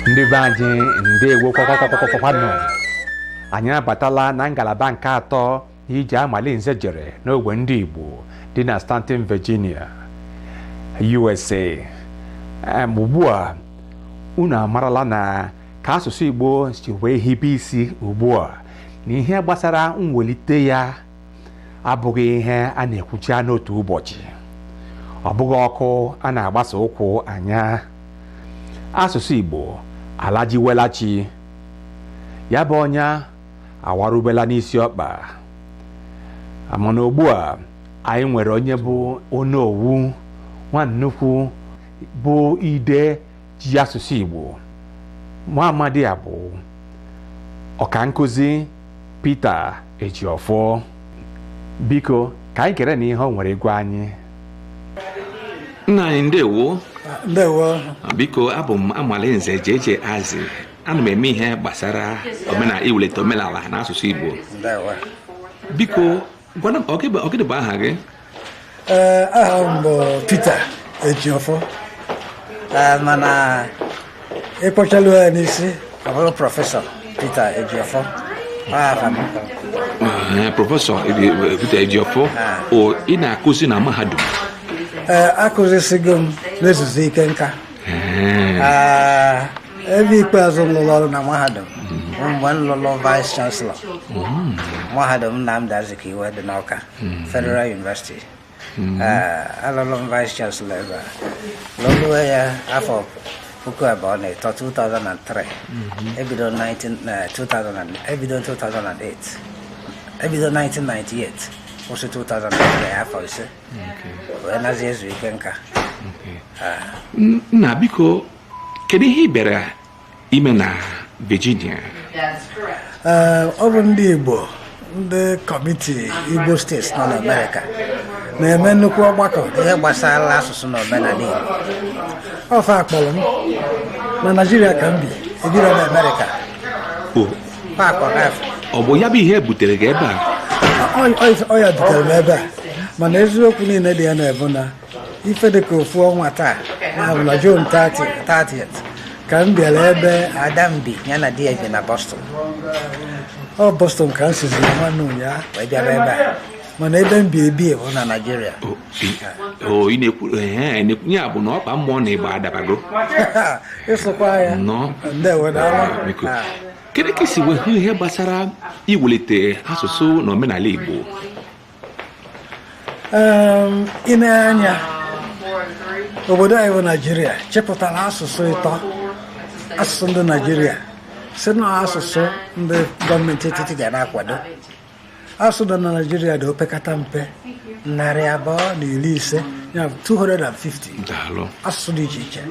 ndị be anyị ndewo kwakwanụ anyị abatala na ngalaba nke atọ ije amalinze jere n'ogbe ndị igbo dị na staunton virginia usa Em, ugbu a unu amarala na ka asụsụ igbo si wee hibe isi ugbu a na ihe gbasara mwelite ya abụghị ihe a na-ekwucha n'otu ụbọchị ọ bụghị ọkụ a na-agbasa ụkwụ anya asụsụ Igbo alajiwela chi ya bụ ọnya awarubela n'isi ọkpa mana ugbu a anyị nwere onye bụ onowu nwa nnukwu bụ ide ji asụsụ Igbo nwa amadi a bụ ọka nkụzi Peter Ejiofor biko ka anyị kere na ihe o nwere ịgwa anyị nna anyị ndewo ndewo biko abụ m amalinze jeje azi ana m eme ihe gbasara omenala iwulite omenala na asụsụ igbo biko Gwana m, ọ gịnị bụ- ọ gịnị bụ aha gị Ee, aha m bụ Peter Ejiofọ Ee, mana ị kpọchalụ ya n'isi ọ bụrụ prọfesọ Peter Ejiofọ Ọ aha m. Ee, prọfesọ Edi- Peter Ejiofọ o ị na-akụzi na mahadum Ee, akụzisigo m na-ezuzi ike nka ebe ikpeazụ m lụrụ ọrụ na mahadum bụ mgbe m lụrụ vice chancellor mahadum Nnamdi Azikiwe dị n'Awka Federal University alụrụ m vice chancellor ebe a lụlụwe ya afọ puku abụọ na ịtọ 2003 ebido 2000 ebido 2008 ebido 1998 kwụsị 2003 afọ ise wee nazi ezu ike nka nna biko kedu ihe ị bịara ime na Virginia eh, ọ bụ ndị Igbo ndị kọmiti Igbo steeti nọ n'Amerika na-eme nnukwu ọgbakọ ihe gbasara asụsụ na omenala Igbo ọ fa kpọrọ m na Naịjirịa ka m bi ebiro na Amerịka ọ bụ ya bụ ihe butere gị ebe a ọ ya butere m ebe a mana eziokwu niile dị ya na-abụ na ife dị ka ofu ọnwa taa na June 30 ka m bịara ebe ada m bi ya na di ya bi na Boston ọ Boston ka m sizi nwanne ụnyaahụ wee bịara ebe a mana ebe m bi ebi bụ na Naịjirịa o ị na-ekwuru ee na-ekwu ya bụ na ọkpa mmụọ na ịgba adabago ịsụkwa ya nnọọ ndewo daalụ biko kedu ka i si wee hụ ihe gbasara iwelite asụsụ na omenala igbo Em, i nee anya obodo anyị bụ naijiria chepụtara asụsụ ịtọ asụsụ ndị naijiria sị na asụsụ ndị gọọmenti etiti ga na-akwado asụ dị na naijiria dị opekata mpe narị abụọ na iri ise ya bụ 250 daalụ asụsụ dị iche iche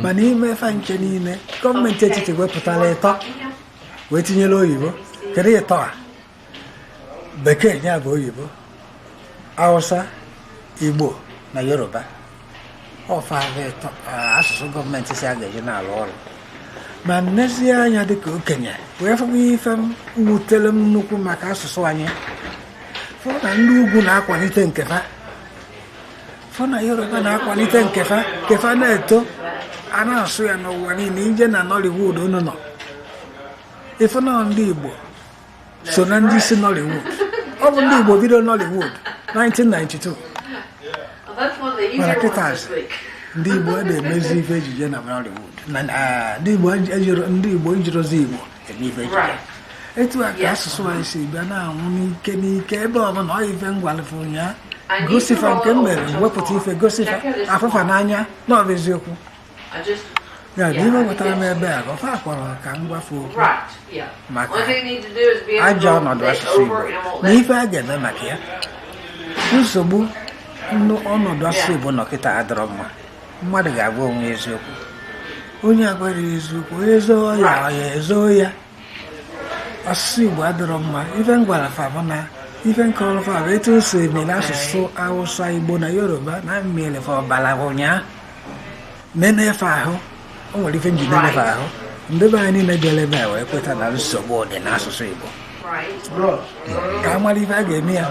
ma n'ime fa ncha niile gọọmenti etiti wepụtara ịtọ wee tinyere oyibo kedu ịtọ a bekee ya bụ oyibo hausa igbo na yoruba ọ fa bụ ịtọ eh, asụsụ gọọmenti sị a ga-eji na-alụ ọlụ ma m nezie anya dịka okenye wee fụkwa ife m wutere m nnukwu maka asụsụ anyị fụ na ndị ugwu na-akwalite nke fa fụ na yoruba na-akwalite nke fa nke fa na-eto a na-asụ ya n'ụwa niile i je na nollywood unu nọ ị fụ na ndị igbo so na ndị isi Nollywood ọ bụ ndị Igbo bido Nollywood 1992 mana kịtazi ndị Igbo a na-emezi ife ejije na Nollywood ndị Igbo ejirozi Igbo eme ife ejije etu a ka asụsụ anyị si bịa na-anwụ n'ike n'ike ebe ọ bụla ọ ife m gwalụ fa ụnyaa gosi fa nke m mere wepụta ife gosi fa a fụ fa n'anya na ọ bụ eziokwu ya bụ ihe wetara m ebe a ọ fa kpọrọ ka m gwa fa okwu maka ajọ ọnọdụ asụsụ Igbo na ife a ga-eme maka ya nsogbu ọnọdụ asụsụ Igbo nọ kịta adịrọ mma mmadụ ga-agwa onwe eziokwu onye agwara eziokwu ezo ọya ọya ezo ya asụsụ igbo adịrọ mma ife m gwara fa bụ na ife nke ọrụ fa bụ etu o si eme n'asụsụ awụsa igbo na yoruba na mmiri fa ọbara ụnyaahụ nene ife ahụ o nwere ife njide nefe ahụ ndị be anyị niile bịara ebe a wee kweta na nsogbu dị n'asụsụ igbo ka a mara ife a ga-eme ya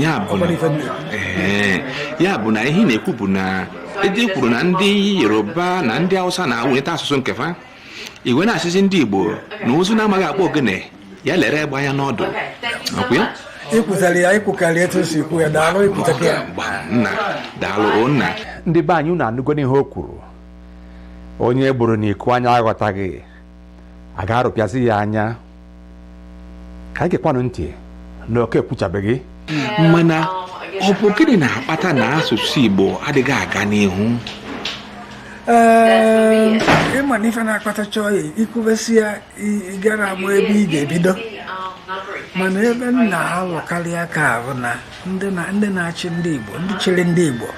ya bụ Ọ na- bụrụ ife ndị- Ee, ya bụ na ihe ị na-ekwu bụ na ede kwuru na ndị yoruba na ndị hausa na-akwalite asụsụ nke fa i wee na-asịzi ndị igbo na ụzụ na-amaghị akpụ ogene ya lere egbe anya n'ọdụ ọ kwa ya i kwuzara ya i kwukarị etu e si ekwu ya daalụ i kwutaka ya mgba nna daalụ o nna ndị be anyị unu anụgonu ihe o kwuru onye gburu n'iku anya aghọtaghị a ga-arụpịazi ya anya ka anyị gekwanụ ntị na oke ekwuchabeghị mana ọ bụ gịnị na-akpata na asụsụ igbo adịghị aga n'ihu Ee, ịma na ife na-akpatacha ya i kwubesie ya i- ị gara ama ebe ị ga-ebido mana ebe m na-alụkarị aka bụ na ndị na- ndị na-achị ndị Igbo ndị chịrị ndị Igbo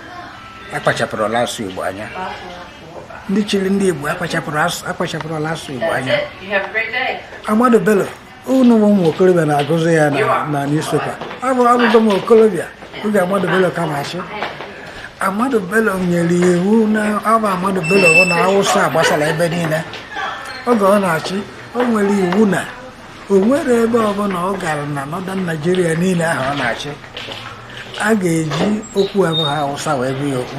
akpachapụrọlụ asụsụ Igbo anya ndị chịrị ndị Igbo akpachapụrụ akpachapụrọlụ asụsụ Igbo anya Ahmadu Bello unu bụ ụmụ okorobịa na-agụzi ya na newspaper abụ abụgo m okorobịa oge Ahmadu Bello ka na-achị Ahmadu Bello nyere iwu na abụ Ahmadu Bello bụ na Awụsa gbasara ebe niile oge ọ na-achị o nyere iwu na o nwerọ ebe ọbụla ọ gara na Northern Nigeria niile ahụ ọ na-achị a ga-eji okwu abụghị Awụsa wee gwa ya okwu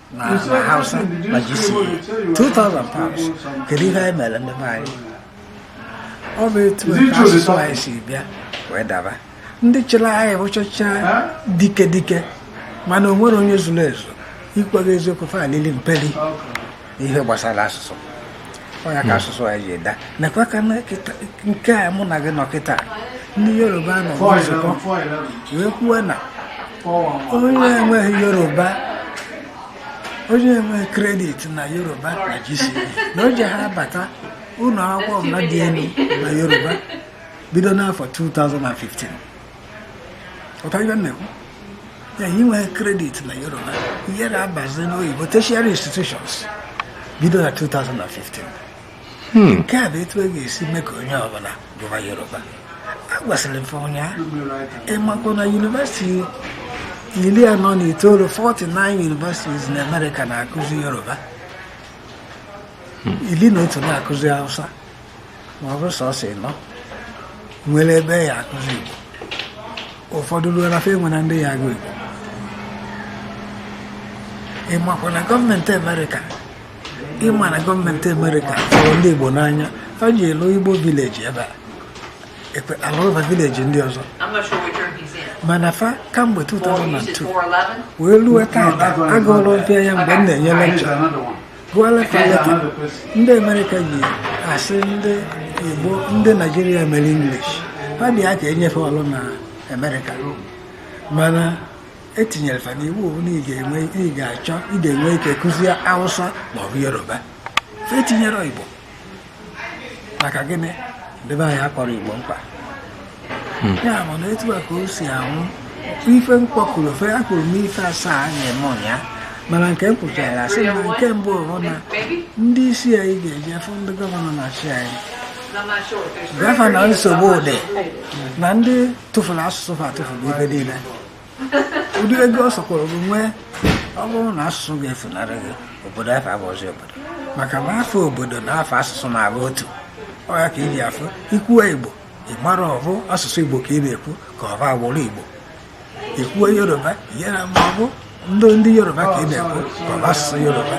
na na hausa na gce 2000 pounds kedu ihe anyị mere ndị be anyị ọ bụ etu a ka asụsụ anyị si bịa wee daba ndị chịrị anyị bụchacha dike dike mana o nwerọ onye zuru ezu ịgwa gị eziokwu fa lili mperi ihe gbasara asụsụ ọ ya ka asụsụ anyị ji ada nakwa ka na kịta- nke a mụ na gị nọ kịta ndị yoruba nọ nzukọ wee kwuo na onye enweghị yoruba onye enweghị kredit na yoruba na gce na o jeha abata ụlọ akwụkwọ ọbụla dị elu na yoruba bido n'afọ 2015 ọtara ibe na-ekwu ya inweghị kredit na yoruba ihe na-abazi n'oyibo tertiary institutions bido na 2015 hmm. nke a bụ etu a ga-esi mee ka onye ọbụla gụba yoruba a gwasịrị m ife ụnyaahụ ịmakwa na yunivesiti iri anọ na itoolu 49 universities na amerịka na-akụzi yoruba hmm. iri na otu na-akụzi hausa ma ọ bụ sọsọ ịnọ nwere ebe a ya-akụzi Igbo ụfọdụ ruo na fa enwerọ ndị ya-agụ Igbo ịmakwa na gọọmenti Amerịka ịma na gọọmenti Amerịka fụrụ ndị Igbo n'anya fa ji lụ Igbo vileji ebe a alụrọba vileji ndị ọzọ mana fa kamgbe 2002 wee ruo taa agwala m fa ya mgbe m na-enye lekchọ Buhari Faleke ndị Amerịka ji asị ndị Igbo ndị Naijiria mere English ha dị ya ka e nye fa ọrụ na Amerịka mana etinyere fa n'iwu na ị ga-enwe ị ga-achọ ị ga-enwe ike kụzie Hausa maọbụ Yoruba etinyerọ Igbo maka gịnị ndị be anyị akpọrọ igbo mkpa hmm. ya bụ na etu a ka o si anwụ ife m kpọkọrọ ofe ya kwuru n'ife asaa a na-eme ụnyaahụ mana nke m kwụchara asị na nke mbụ bụ na ndị isi anyị ga-eje afụ ndị gọvanọ na-achị anyị gọvanọ nsogbu dị na ndị tụfuru asụsụ fa tụfuru ife niile ụdị ego ọ sọkwara gị nwee ọ bụrụ na asụsụ gị efunarị gị obodo afụ abụrọzi obodo maka na afa obodo na afa asụsụ na-abụ otu ọ ya ka i ji afụ i kwuo igbo ị mara ọ bụ asụsụ igbo ka ị na-ekwu ka ọ bụ agbụrụ igbo i kwuo yoruba ị mara ma ọ bụ ndị ndị yoruba ka ị na-ekwu ka ọ bụ asụsụ yoruba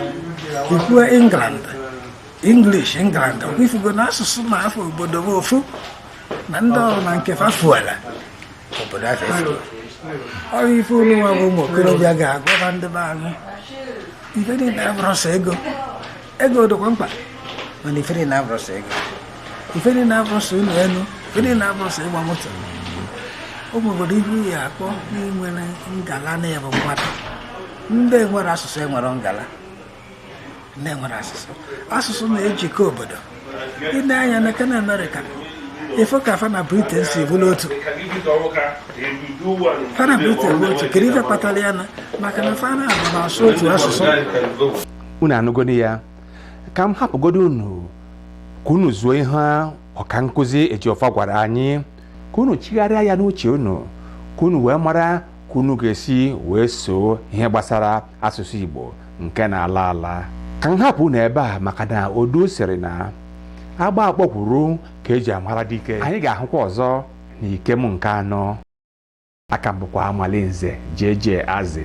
i kwuo england english england ọ kwa ị fụgo na asụsụ na afa obodo bụ ofu na ndị ọbụna nke fa fuela obodo afụ efuo ọ bụ ife unu nwa bụ ụmụ okorobịa ga-agwaba ndị be anyị ife niile abụrọ sọ ego ego dịkwa mkpa mana ife niile abụrọ sọ ego ife niile abụrọ sọ ụlọ elu ife niile abụrọ sọ ịgba moto ụmụ obodo ihu ya akpọ n'inwere ngala na-ebu mmadụ ndị nwere asụsụ enwere ngala ndị nwere asụsụ asụsụ na-ejikọ obodo i lee anya na nke amerịka ị fụ ka fa na briten si bụrụ otu fa na briten bụ otu kedu ife kpatara ya na maka na fa na-abụ na-asụ otu asụsụ unu anụgonu ya ka m hapụgodi unu ka unu zuo ihe ọkankụzi Ejiọfọ gwara anyị ka unu chigharịa ya n'uche unu ka unu wee mara ka unu ga-esi wee soo ihe gbasara asụsụ Igbo nke na-ala ala ka m hapụ unu ebe a maka na odu sịrị na agba akpọkwuru ka eji amara dike anyị ga-ahụkwa ọzọ na ikem nke anọ a ka m bụkwa Amalinze JJ Azị